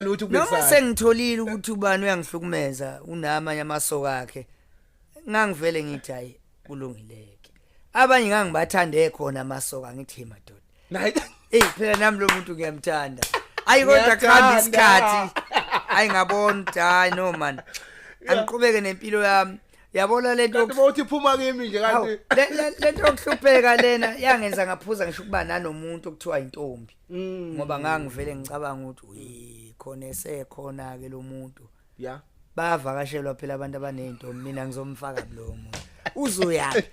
lutho noma kubesayo sengitholile ukuthi ubani uyangihlukumeza unamanye amasoka akhe ngangivele ngithi hayi kulungileke abanye ngangibathande khona amasoka ngithi "Hey, madoda naye eyi phela nami lo muntu ngiyamthanda ayi kodwa Ngiyathanda. kuhamba isikhathi ayi ngabona ukuthi hayi no man angiqhubeke nempilo yami yabona le nto kanti yoku- bawuthi phuma kimi nje Hawu, kanti le- le- le nto yokuhlupheka lena yangenza ngaphuza ngisho ukuba nanomuntu okuthiwa intombi Mm. ngoba ngangivele ngicabanga ukuthi uyi khona esekhona ke lo muntu ya bayavakashelwa phela abantu abanezinto mina ngizomfaka kulowo muntu uzoyaphi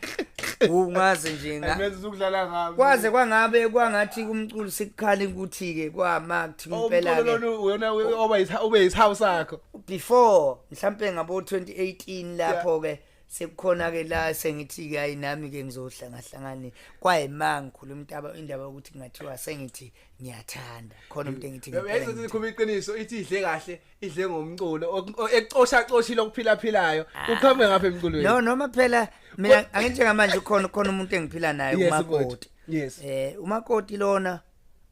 ungazi nje nga- Ayimenza uzokudlala ngami. kwaze kwangabe kwangathi kumculo sikukhala ukuthi-ke kwamakuthi Oh, impela umculo ke lona uyona we- oba yisa- ube yisihawu sakho. before mhlampe ngabo-2018 lapho-ke sekukhona ke la sengithi ke ayi nami ke ngizohla ngahlangane kwayimanga ngikhuluma intaba indaba ukuthi kungathiwa sengithi ngiyathanda khona umuntu engithi ngiyayizwa ukuthi khuma iqiniso ithi idle kahle idle ngomculo ecosha coshi lokuphila philayo ah. ukhambe ngapha emculweni no noma phela mina angithi ngamanje ukhona ukhona umuntu engiphila naye umakoti yes eh umakoti lona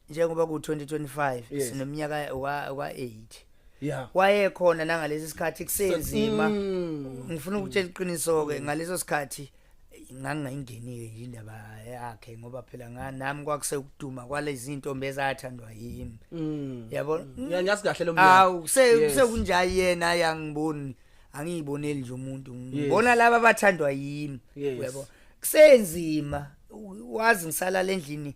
njengoba ku 2025 sinomnyaka wa 8 yeah wayekhona nangalesi sikhathi kusenzima mm. ngifuna ukutshela iqiniso ke ngaleso sikhathi ngangingayingenile nje indaba yakhe ngoba phela nami kwakuse ukuduma kwalezi intombi ezathandwa yimi mm. yabo ngiyazi kahle lo mntu awu sekunja yena yangiboni angiyiboneli nje umuntu ngibona laba abathandwa yimi yabo kusenzima wazi ngisalala endlini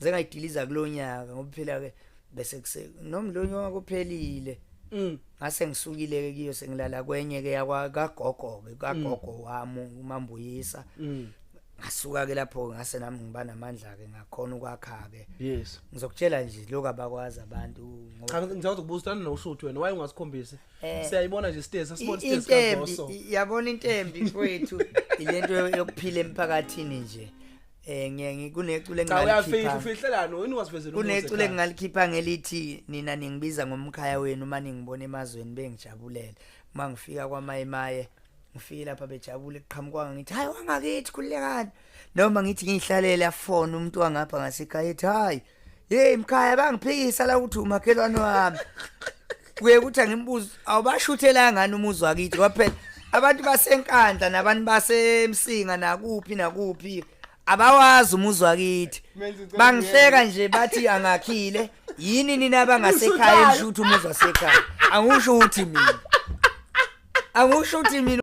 zengayidiliza kulonyaka ngoba phela ke bese kuse nomlonyo wakuphelile Mm. ngase ngisukile ke kiyo sengilala kwenye ke yakwa kagogo ke kagogo Mm. wami umambuyisa ngasuka ke lapho ke ngase nami ngiba namandla ke ngakhona ukwakha ke yes ngizokutshela nje lokho abakwazi abantu ngoba cha ngizawuthi kubusana noshuthi wena waye ungasikhombisi Eh. siyayibona nje stesi asibona I- stesi intembi kazoso i- yabona intembi kwethu ilento yokuphila emphakathini nje Eh ngiye ngikunecule engalikhipha. Ufihlelani wena wasivezela umuthi. Kunecule engalikhipha ngelithi nina ningibiza ngomkhaya wenu uma ningibona emazweni bengijabulele. Uma ngifika kwaMayimaye ngifike lapha bejabule qhamukwanga ngithi hayi wangakithi khulekani noma ngithi ngihlalele afone umuntu wangapha ngasekhaya ethi hayi yeyi mkhaya bangiphikisa la ukuthi umakhelwane wami kuye kuthi angimbuze awubashuthelanga ngani umuzi wakithi kwaphela abantu basenkandla nabantu basemsinga nakuphi nakuphi abawazi umuzi wakithi bangihleka nje bathi angakhile yini nina bangasekhaya nisho ukuthi umuzi wasekhaya angisho ukuthi mina angisho ukuthi mina